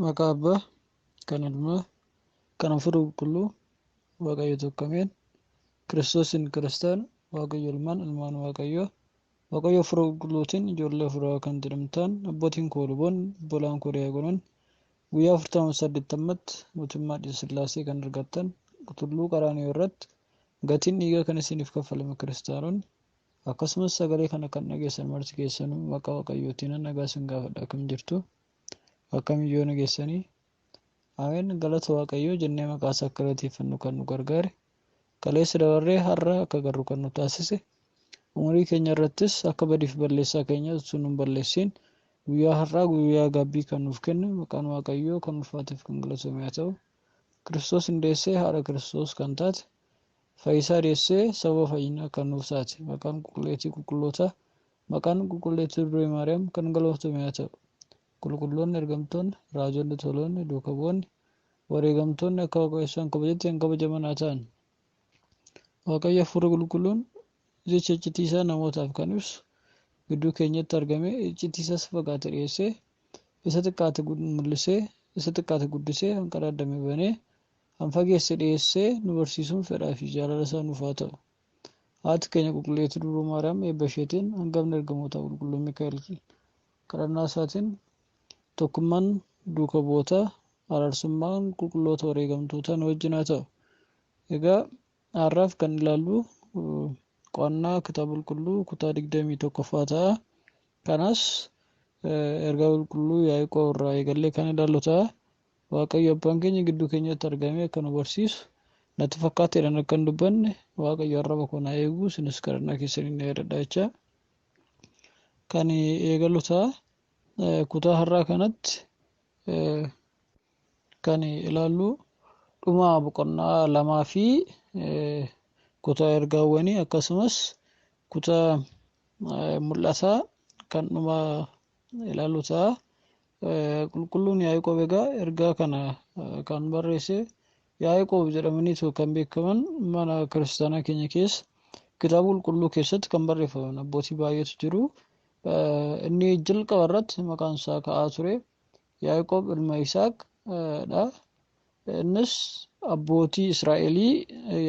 Maqaa Abbaa, kan Ilmaa, kan Hafuura Qulqulluu, Waaqayyo tokko Ameen. Kiristoosiin Kiristaana, Waaqayyo Ilmaan, Ilmaan Waaqayyoo, Waaqayyo Hafuura Qulqulluutiin ijoollee Hafuuraa kan jedhamtaan, abbootiin koo luboonni, obbolaan koo diyaaqonoonni, guyyaa afurtamaaf saddeettammatti mootummaa Sillaasee kan argattan, Tulluu Qaraaniyoo irratti gatiin dhiigaa kan isiniif kaffalame Kiristaanonni, Akkasumas sagalee kana kan dhageessan marti keessanuu maqaa waqayyootiinan nagaa sin gaafadha akkam jirtu akkami yoo nageessanii Ameen galata waaqayyoo jennee maqaa isaa akka galateeffannu kan nu gargaare kaleessa dabarree har'a akka garru kan nu taasise umurii keenya irrattis akka badiif balleessaa keenya utuu nun balleessiin guyyaa har'aa guyyaa gaabbii kan nuuf kenne maqaan waaqayyoo kan ulfaateef kan galatoomu haa ta'u kiristoos hin deessee haadha kiristoos kan taate Fayyisaa deessee sababa fayyinaa kan nuuf taate maqaan qulqulleettii qulqullootaa maqaan qulqulleettii Durbee Maariyaam kan galooftame haa ta'u. Qulqulloonni ergamtoonni, raajonni toloonni, duuka bu'oonni, wareegamtoonni akka Waaqayyo isaan kabajetti kan kabajaman haa ta'an. Waaqayyo Hafuurri Qulqulluun jecha iccitii isaa namootaaf kan ibsu gidduu keenyatti argamee iccitii isaa isa fagaate dhiyeessee isa xiqqaate mul'isee isa xiqqaate guddisee hanqaraadame banee Kan fageesse dhiyeessee nu barsiisuun fedhaa fi jaalala isaa nuuf haa ta'u. Haati keenya Qulqulleettii Dubroo Maariyaam eebba isheetiin hangafni ergamootaa Qulqulluun Mikaa'el kadhannaa isaatiin tokkummaan duuka bu'ootaa araarsummaan qulqulloota wareegamtootaa nu wajjin haa ta'u. Egaa har'aaf kan ilaallu qo'annaa kitaaba qulqulluu kutaa 21ffaa ta'a. Kanas ergaa qulqulluu Yaaqoob irraa eegallee kan ilaallu ta'a. Waaqayyo Abbaan keenya gidduu keenyatti argamee akka nu barsiisu natti fakkaata jedhan akka hin dubbanne Waaqayyo arraba koo na eegu isinis kadhannaa keessaniin na yaadadha jechaa kan eegalu ta'a. Kutaa har'aa kanatti kan ilaallu dhuma boqonnaa lamaa fi kutaa ergaawwanii akkasumas kutaa mul'ataa kan dhuma ilaallu ta'a. Qulqulluun Yaaqoob egaa ergaa kana kan barreesse Yaaqoob jedhamanii kan beekaman mana kiristaanaa keenya keessa kitaaba qulqulluu keessatti kan barreeffaman abbootii baay'eetu jiru. Inni jalqaba irratti maqaan isaa ka'aa ture Yaaqoob ilma Isaaq dha. Innis abbootii Israa'elii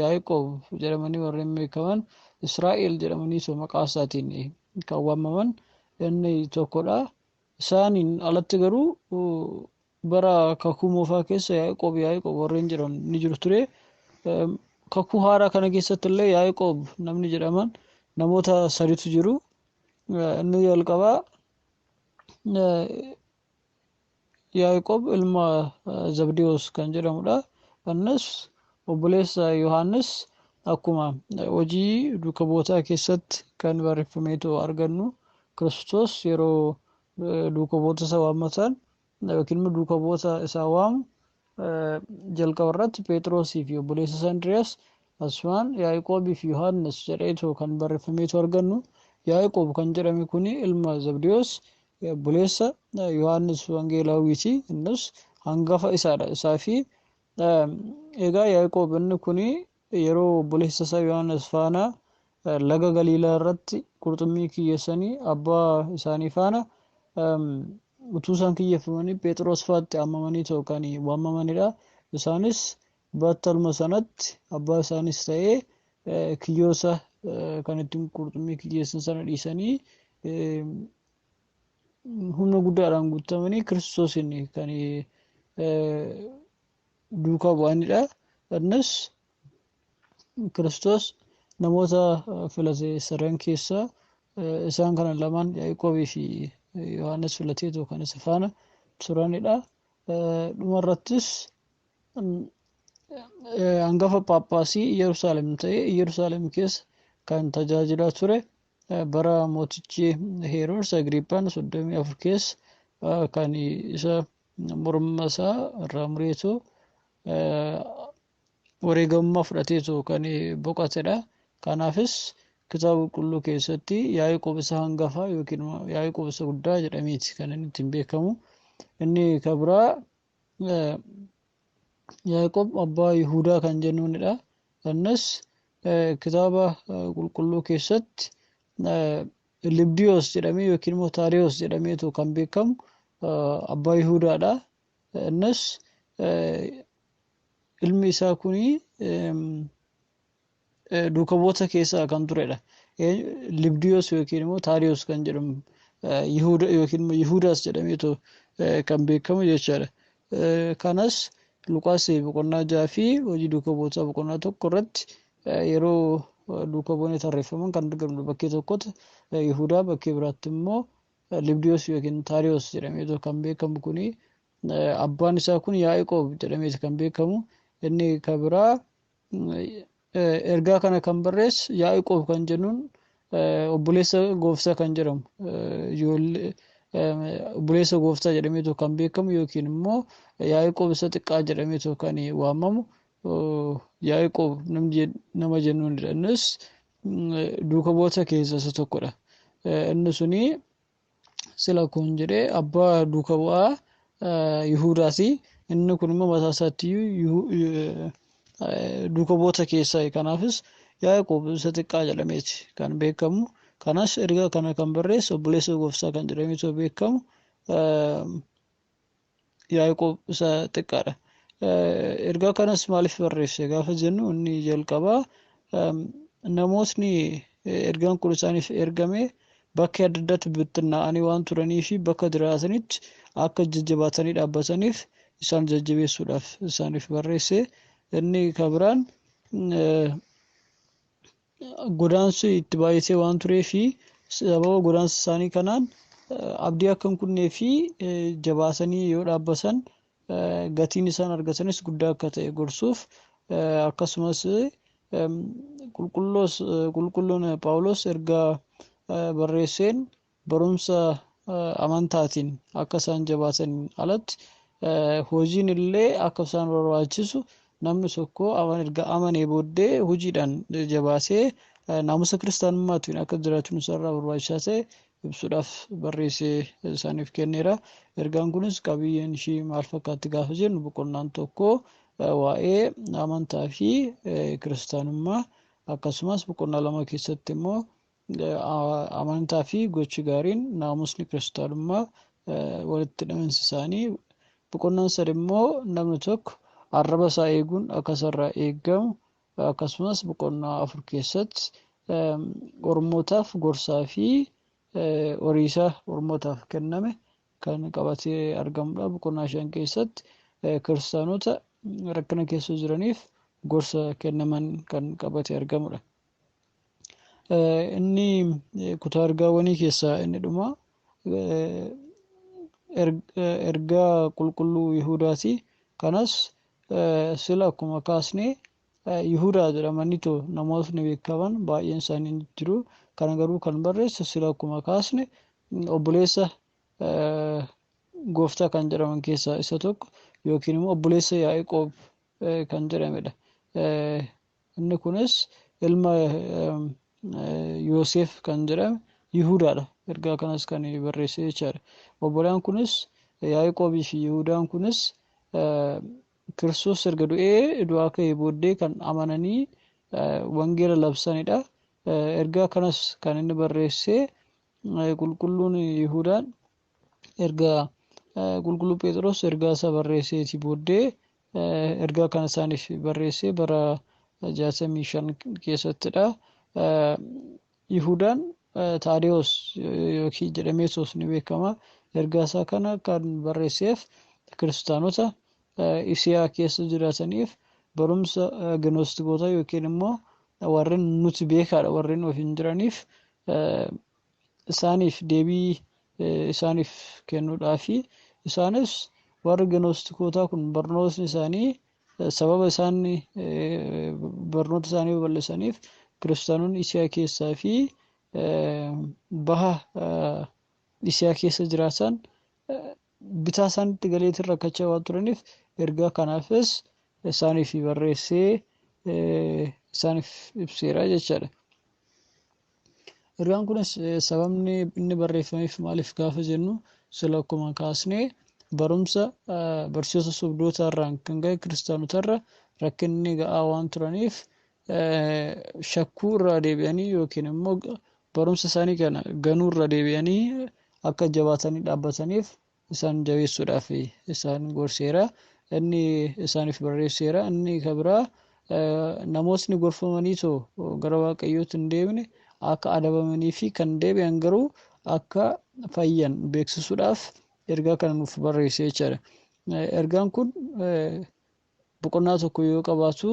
Yaaqoob jedhamanii warreen beekaman Israa'el jedhamanii isa maqaa isaatiin kan waamaman inni tokkodha. Isaaniin alatti garuu bara kakuu moofaa keessa Yaaqoob Yaaqoob warreen jedhan ni jiru ture. Kakuu haaraa kana keessatti illee Yaaqoob namni jedhaman namoota saditu jiru. Inni jalqabaa Yaaqoob ilma Zabdiyoos kan jedhamudha. Innis obboleessa Yohaannis akkuma hojii duuka bu'ootaa keessatti kan barreeffameetu argannu Kiristoos yeroo duuka bu'oota isaa waammataan yookiin immoo duuka bu'oota isaa waamu Jalqaba irratti Pheexroosii fi obboleessi isaa Indiriyaas, asumaan Yaaqoobii fi Yohaannis jedheetoo kan barreeffameetu argannu. Yaaqoob kan jedhame kun ilma Zabdiyoos obboleessa Yohaannis Wangeelaawwiiti. Innis hangafa isaadha. Isaa fi egaa Yaaqoob inni kun Yeroo obboleessa isaa Yohaannis faana laga Galiilaa irratti qurxummii kiyyeessanii abbaa isaanii faana utuu isaan kiyyeffamanii Phexros faatti ammamanii ta'u kan waamamanidha. Isaanis battaluma sanatti abbaa isaanis ta'ee kiyyoosa kan ittiin qurxummii kiyyeessan sana dhiisanii humna guddaadhaan guutamanii Kiristoosiin kan duukaa bu'anidha. Innis Kiristoos namoota filate sadan keessaa isaan kana lamaan Yaaqoobii fi Yohaannis filateetu kan isa faana turanidha. Dhumarrattis hangafa paappaasii Yerusaalem ta'e Yerusaalem keessa kan tajaajilaa ture bara mootichi Heeroors Agriippaan 34 keessa kan isa morma isaa irraa mureetu wareegamummaa fudhateetu kan boqatedha. Kanaafis kitaaba qulqulluu keessatti Yaaqoob isa hangafa yookiin Yaaqoob isa guddaa jedhameeti kan inni ittiin beekamu. Inni kan biraa Yaaqoob abbaa Yihuudaa kan jennuunidha. Innis kitaaba qulqulluu keessatti Libdiyoos jedhamee yookiin immoo Taadiyoos jedhameetu kan beekamu abbaa Yihudaadha. Innis ilmi isaa kun duuka bu'oota keessaa kan turedha. Libdiyoos yookiin immoo Taadiyoos kan jedhamu Yihuda yookiin immoo Yihudaas jedhameetu kan beekamu jechaadha. Kanas Luqaas boqonnaa 6 fi Hojii Duuka Bu'ootaa boqonnaa 1 irratti yeroo duuka bu'oonni tarreeffaman kan argamnu bakkee tokkotti Yihudaa bakkee biraatti immoo Libdiyoos yookiin Taariyoos jedhameetu kan beekamu kuni abbaan isaa kun Yaaqoob jedhameeti kan beekamu inni kan biraa Ergaa kana kan barreesse Yaa'iqoob kan jennuun obboleessa gooftaa kan jedhamu obboleessa gooftaa jedhameetu kan beekamu yookiin immoo Yaa'iqoob isa xiqqaa jedhameetu kan waamamu Yaa'iqoob nama jennuunidha. Innis duuka bu'oota keessaa isa tokkodha. Inni suni sila kun jedhee abbaa duuka bu'aa Yihudaati. Inni kun immoo mataa isaatti duuka bu'oota keessaa kanaafis Yaaqoob isa xiqqaa jedhameeti kan beekamu. Kanas erga kana kan barreesse obboleessa gooftaa kan jedhameetu beekamu. Yaaqoob isa xiqqaadha. Ergaa kanas maaliif barreesse gaafa jennu inni jalqabaa namootni ergaan kun isaaniif ergame bakka adda addaatti bittinnaa'anii waan turanii fi bakka jiraatanitti akka jajjabaatanii dhaabbataniif isaan jajjabeessuudhaaf isaaniif barreesse. Inni kan biraan godaansi itti baay'isee waan turee fi sababa godaansa isaanii kanaan abdii akka hin kunnee fi jabaasanii yoo dhaabbasan gatiin isaan argatanis guddaa akka ta'e gorsuuf akkasumas qulqulloon Phaawulos ergaa barreesseen barumsa amantaatiin akka isaan jabaataniin alatti hojiin illee akka isaan barbaachisu namni tokko erga amanee booddee hojiidhaan jabaatee naamusa kiristaanummaatiin akka jiraachun isaarraa barbaachisaa ta'e ibsuudhaaf barreessee isaaniif kenneera. Ergaan kunis qabiyyeen ishii maal fakkaatti gaafa jennu boqonnaan tokko waa'ee amantaa fi kiristaanummaa akkasumas boqonnaa lama keessatti immoo Amantaa fi gochi gaariin naamusni kiristaanummaa walitti hidhaminsi isaanii boqonnaan sadi immoo namni tokko arraba isaa eeguun akka isarraa eegamu akkasumas boqonnaa afur keessatti ormootaaf gorsaa fi horiisa ormootaaf kenname kan qabatee argamudha. Boqonnaa shan keessatti kiristaanota rakkina keessa jiraniif gorsa kennaman kan qabatee argamudha. Inni kutaa ergaawwanii keessaa inni dhuma ergaa qulqulluu Yihudaati. Kanas sila akkuma kaasne Yihudaa jedhamaniitu namootni beekaman baay'een isaanii ni jiru. Kana garuu kan barreesse sila akkuma kaasne obboleessa gooftaa kan jedhaman keessaa isa tokko yookiin immoo obboleessa Yaa'iqoob kan jedhamedha. Inni kunis ilma Yooseef kan jedhame Yihudaadha. Ergaa kanas kan barreesse jechaadha. Obbolaan kunis Yaaqoobii fi Yihudaan kunis Kiristoos erga du'ee du'aa ka'ee booddee kan amananii wangeela labsanidha. Ergaa kanas kan inni barreesse qulqulluun Yihudaan erga qulqulluu Phexros ergaa isaa barreesseetii booddee Ergaa kana isaaniif barreessee bara jaatamii shan keessattidha. Yihudaan Taadewoos yookiin jedhamee soos ni beekama. Ergaa isaa kana kan barreesseef kiristaanota Isiyaa keessa jiraataniif barumsa ginoostikoota yookiin immoo warreen nuti beekaadha warreen ofiin jiraniif isaaniif deebii isaaniif kennuudhaafi. Isaanis warri Ginoostikootaa kun barnootni isaanii sababa isaan barnoota isaanii babal'isaniif kiristaanonni Isiyaa keessaa fi baha Isiyaa keessa jiraatan bitaa isaanitti galeetiin rakkachaa waan turaniif ergaa kanaafis isaaniif barreessee isaaniif ibseera jechaadha. Ergaan kunis sababni inni barreeffameef maaliif gaafa jennu sila akkuma kaasnee barumsa barsiisota sobdootaa irraan kan ga'e kiristaanotarra rakkinni ga'aa waan turaniif shakkuu irraa deebi'anii yookiin immoo barumsa isaanii kana ganuu irra deebi'anii akka jabaatanii dhaabbataniif isaan jabeessuudhaaf isaan gorseera. Inni isaaniif barreesseera. Inni kan biraa namootni gorfamanii too gara waaqayyootti hin deemne akka adabamanii fi kan deebi'an garuu akka fayyan beeksisuudhaaf ergaa kana nuuf barreesse jechaadha. Ergaan kun boqonnaa tokko yoo qabaatu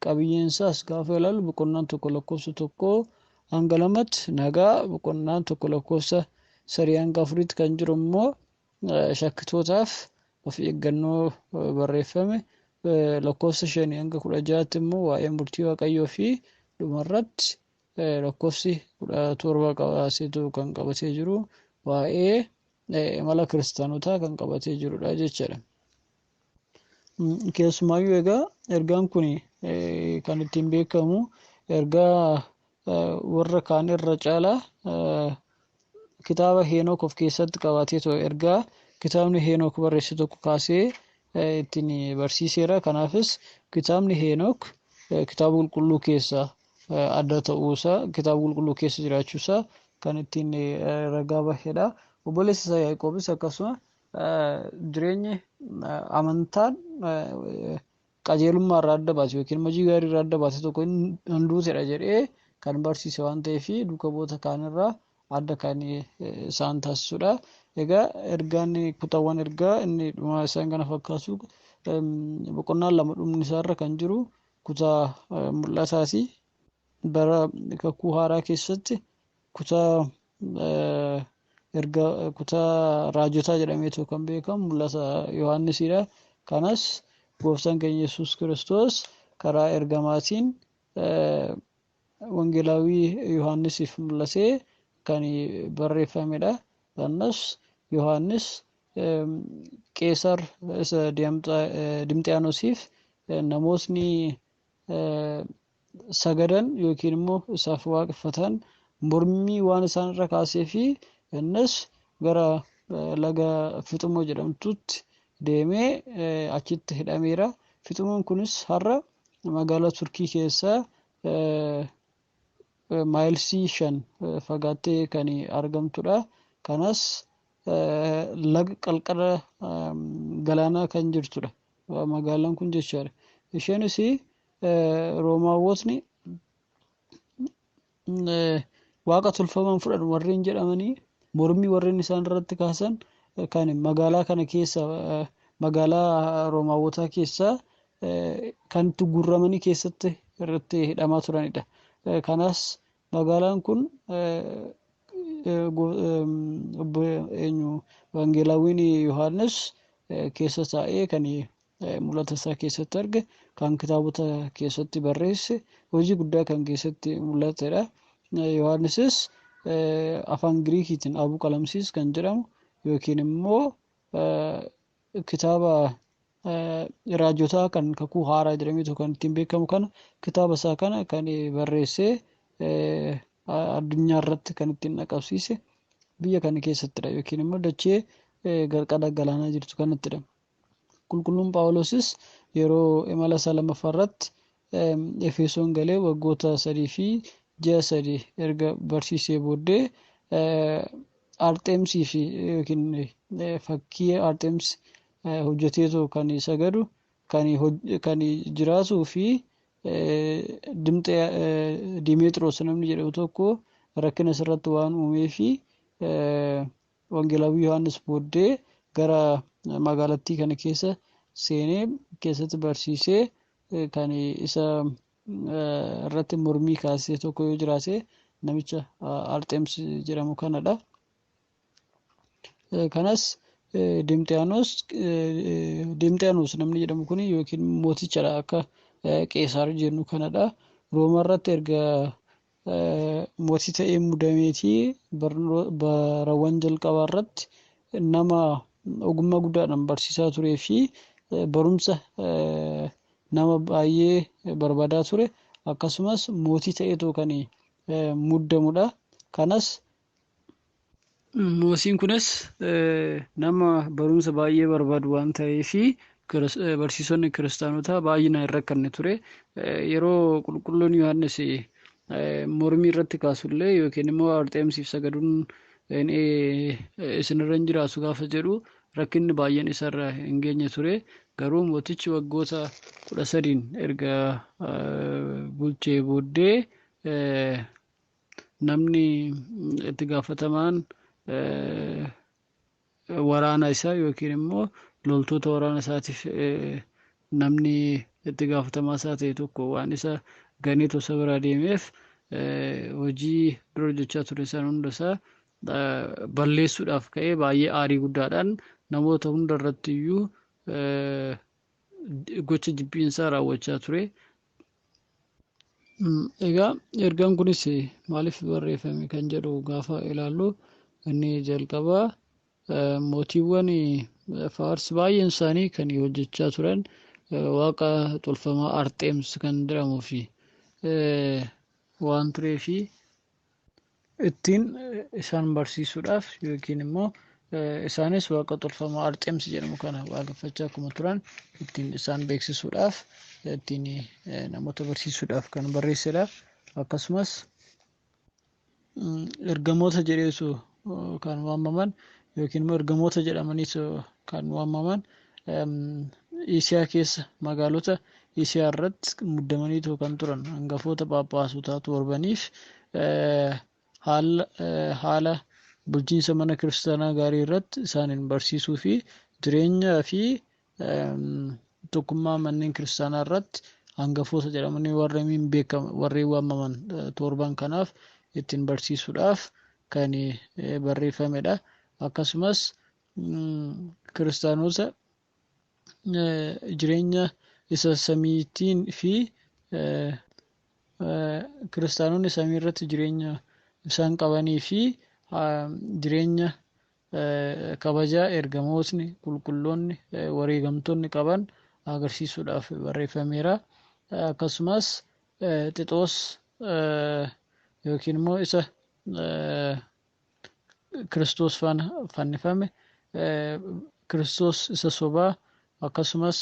qabiyyeen isaas gaafa ilaalu boqonnaan tokko lakkoofsa tokko hanga lamatti nagaa boqonnaan tokko lakkoofsa sadii hanga afuritti kan jiru immoo shakkitootaaf of eeggannoo barreeffame lakkoofsa shanii hanga kudha ja'aatti immoo waa'ee murtii waaqayyoo fi dhumarratti lakkoofsi kudha torba qabaaseetu kan qabatee jiru waa'ee imala kiristaanotaa kan qabatee jirudha jechuudha. Keessumaayyuu egaa ergaan kun kan ittiin beekamu ergaa warra kaan irra caalaa kitaaba Heenook of keessatti qabatee ture ergaa kitaabni Heenook barreesse tokko kaasee ittiin barsiiseera. Kanaafis kitaabni Heenook kitaaba qulqulluu keessaa adda ta'uusaa kitaaba qulqulluu keessa jiraachuusaa kan ittiin ragaa bahedha. Obboleessi isaa Yaaqoobis akkasuma Jireenyi amantaan qajeelummaa irraa adda baase yookiin hojii gaarii irraa adda baase tokko hin duutedha jedhee kan barsiise waan ta'eef duuka bu'oota kaanirraa adda kan isaan taasisudha. Egaa ergaan kutaawwan ergaa inni dhumaa isaan kana fakkaatu boqonnaan lama dhumni isaarra kan jiru kutaa mul'ataati. Bara kakuu haaraa keessatti kutaa erga kutaa raajotaa jedhameetu kan beekamu mul'ata Yohaannisiidha. Kanas gooftaan keenya Yesuus Kiristoos karaa ergamaatiin wangeelaawwii Yohaannisiif mul'atee kan barreeffamedha. Kanas Yohaannis Qeesar isa Dimxiyaanosiif namootni sagadan yookiin immoo isaaf waaqeffatan mormii waan isaan irra kaasee fi innis gara laga Fixumoo jedhamtutti deemee achitti hidhameera. Fixumoon kunis har'a magaalaa Turkii keessaa maayilsii shan fagaattee kan argamtudha. Kanas laga qarqara galaanaa kan jirtudha. Magaalaan kun jechaadha. Isheenis Roomaawwotni waaqa tolfaman fudhan warreen jedhamanii mormii warreen isaan irratti kaasan kan magaalaa kana keessa magaalaa Roomaawwotaa keessaa kan itti guurramanii keessatti irratti hidhamaa turanidha. Kanas Magaalaan kun Wangeelaawwiin Yohaannis keessa taa'ee kan mul'ata isaa keessatti arge, kan kitaabota keessatti barreesse, hojii guddaa kan keessatti mul'atedha. Yohaannisis afaan Giriikiitiin Abuu Qalamsiis kan jedhamu yookiin immoo kitaaba raajotaa kan kakuu haaraa jedhameetu kan ittiin beekamu kana kitaaba isaa kana kan barreessee addunyaa irratti kan ittiin dhaqabsiise biyya kana keessattidha yookiin immoo dachee qarqara galaanaa jirtu kanattidha. Qulqulluun Phaawulosis yeroo imala isaa lammaffaa irratti Efesoon galee waggoota sadii fi ji'a sadii erga barsiisee booddee Arxeemsii fi yookiin fakkii Arxeems hojjeteetu kan sagadu kan jiraatuu fi Dimeexiroos namni jedhamu tokko rakkina isarratti waan uumee fi Wangeelaawwii Yohaannis booddee gara magaalattii kana keessa seenee keessatti barsiisee kan isa irratti mormii kaasee tokko yoo jiraate namicha Arxeems jedhamu kanadha. Kanas Dimxiyaanos Dimxiyaanos namni jedhamu kun yookiin mootichadha akka Qeesaar jennu kanadha. Rooma irratti erga mootii ta'ee muudameeti barawwan jalqabaa irratti nama ogummaa guddaadhaan barsiisaa turee fi barumsa nama baay'ee barbaadaa ture akkasumas mootii ta'eetoo kan muddamudha. Kanas Moosiin kunis nama barumsa baay'ee barbaadu waan ta'eef barsiisonni kiristaanotaa baay'inaan hin rakkanne ture. Yeroo qulqulluun Yohaannis mormii irratti kaasullee yookiin immoo Arxeemsiif sagaduun isinirra hin jiraatu gaafa jedhu rakkinni baay'een isarra hin geenye ture. Garuu mootichi waggoota kudha sadiin erga bulchee booddee Namni itti gaafatamaan waraana isaa yookiin immoo loltoota waraana isaatiif namni itti gaafatamaa isaa ta'e tokko waan isa ganee tosa biraa deemeef hojii dura hojjechaa ture san hunda isaa balleessuudhaaf ka'ee baay'ee aarii guddaadhaan namoota hunda irratti iyyuu gocha jibbiinsaa raawwachaa ture. Egaa ergaan kunis maaliif barreeffame kan jedhu gaafa ilaallu inni jalqabaa mootiiwwan faars baay'een isaanii kan hojjechaa turan waaqa tolfamaa arxeems kan jedhamuu fi waan tureefi ittiin isaan barsiisuudhaaf yookiin immoo isaanis waaqa tolfamaa arxeemsi jedhamu kana waaqeffachaa akkuma turan ittiin isaan beeksisuudhaaf ittiin namoota barsiisuudhaaf kan barreessedha akkasumas ergamoota jedheesu kan waamaman yookiin immoo ergamoota jedhamaniis kan waamaman Isiyaa keessa magaalota Isiyaa irratti muddamaniitu kan turan hangafoota phaaphaasutaa torbaniif haala bulchiinsa mana kiristaanaa gaarii irratti isaaniin barsiisuu fi jireenyaa fi tokkummaa manneen kiristaanaa irratti hangafoota jedhamanii warreen beekaman warreen waamaman torban kanaaf ittiin barsiisuudhaaf kan barreeffamedha. Akkasumas kiristaanota jireenya isa samiitiin fi kiristaanonni samii irratti jireenya isaan qabanii fi jireenya kabajaa ergamootni qulqulloonni wareegamtoonni qaban agarsiisuudhaaf barreeffameera. Akkasumas xixoos yookiin immoo isa Kiristoos faana fannifame Kiristoos isa sobaa akkasumas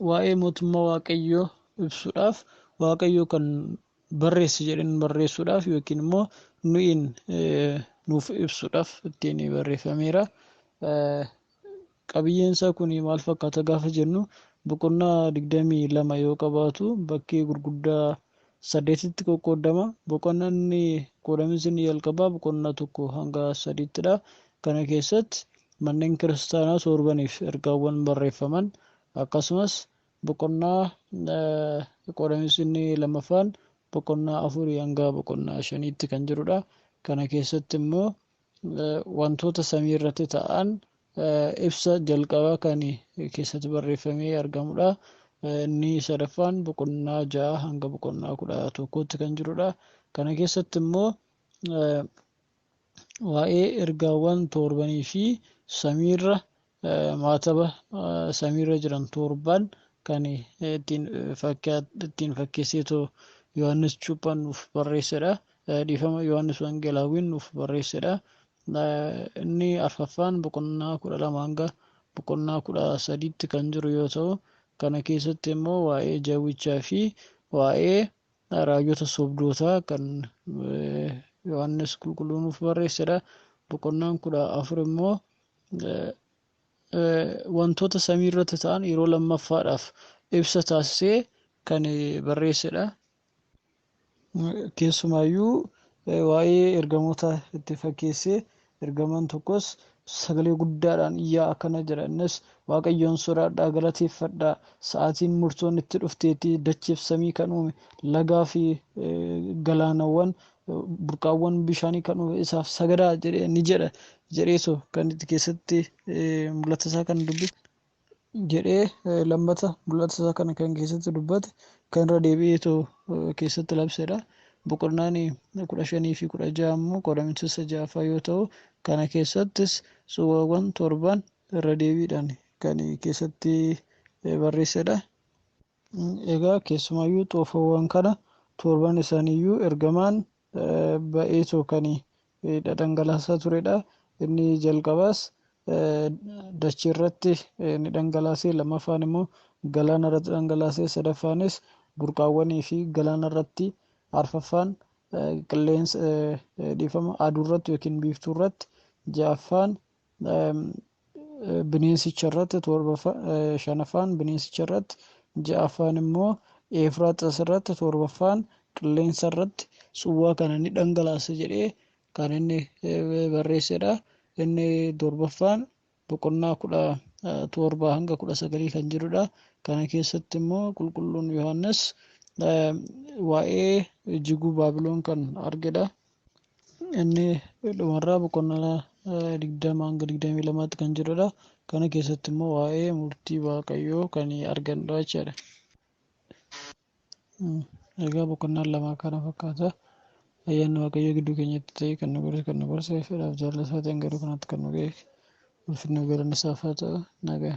waa'ee mootummaa Waaqayyoo ibsuudhaaf Waaqayyoo kan barreesse jedhanii barreessuudhaaf yookiin immoo nuyiin nuuf ibsuudhaaf ittiin barreeffameera. Qabiyyeen isaa kun maal fakkaata gaafa jennu boqonnaa digdamii lama yoo qabaatu bakkee gurguddaa saddeetitti qoqqooddama. Boqonnanni qoodamiinsi inni jalqabaa boqonnaa tokko hanga sadiitti dha. Kana keessatti manneen kiristaanaa toorbaniif ergaawwan barreeffaman akkasumas boqonnaa qoodamiinsi inni lammaffaan boqonnaa afurii hanga boqonnaa shaniitti kan jiru dha. Kana keessatti immoo wantoota samii irratti ta'an ibsa jalqabaa kan keessatti barreeffamee argamudha. Inni sadaffaan boqonnaa ja'a hanga boqonnaa kudha tokkootti kan jirudha. Kana keessatti immoo waa'ee ergaawwan torbanii fi samiirra maataba samiirra jiran torbaan kan ittiin fakkeesseetoo Yohaannis Cuuphaan nuuf barreessedha. Dhiifama Yohaannis Wangeelaawwiin nuuf barreessedha. Inni arfaffaan boqonnaa kudha lama hanga boqonnaa kudha sadiitti kan jiru yoo ta'u, kana keessatti immoo waa'ee jawwichaa fi waa'ee raajota sobdootaa kan Yohaannis qulqulluu nuuf barreessedha. Boqonnaan kudha afur immoo wantoota samii irratti ta'an yeroo lammaffaadhaaf ibsa taasisee kan barreessedha. Keessumaayyuu waa'ee ergamoota itti fakkeessee ergamaan tokkos sagalee guddaadhaan iyyaa akkana jedha innis waaqayyoon sodaadhaa galateeffadhaa sa'aatiin murtoon itti dhufteetti dachiif samii kan uume lagaa fi galaanawwan burqaawwan bishaanii kan uume isaaf sagadaa jedhee ni jedha jedhee so kan itti keessatti mul'ata isaa kan dubbise jedhee lammata mul'ata isaa kana kan keessatti dubbate kan irra deebi'ee too keessatti labsedha. Boqonnaan kudha shanii fi kudha ja'a immoo qoodamiinsa isa ja'affaa yoo ta'u kana keessattis suuraawwan torban irra deebiidhaan kan keessatti barreessedha. Egaa keessumaayyuu xoofoowwan kana torban isaaniiyyuu ergamaan ba'eetoo kan dhadhangalaasaa turedha. Inni jalqabaas dacheerratti ni dhangalaase, lammaffaan immoo galaana irratti dhangalaase, sadaffaanis burqaawwanii fi galaana irratti, arfaffaan qilleensa dhiifama aduurratti yookiin biiftuurratti, ja'affaan bineensicha irratti torbaffaa shanaffaan bineensicha irratti ja'affaan immoo Eefraaxas irratti torbaffaan qilleensa irratti suwwaa kana ni dhangalaasa jedhee kan inni barreessedha. Inni torbaffaan boqonnaa kudha torbaa hanga kudha sagalii kan jirudha. Kana keessatti immoo qulqulluun Yohaannis waa'ee jiguu Baabiloon kan argedha. Inni dhumarraa boqonnaa digdama hanga digdamii lamaatti kan jirudha. Kana keessatti immoo waa'ee murtii Waaqayyoo kan argannudha jechaadha. Egaa boqonnaan lamaa kana fakkaata. Ayyaanni Waaqayyoo gidduu keenyatti ta'ee kan nu godhe kan nu barsiise fedhaaf jaalala isaatiin garuu kanatti kan nu ga'e ulfinni galanni isaaf haa ta'u nagaan.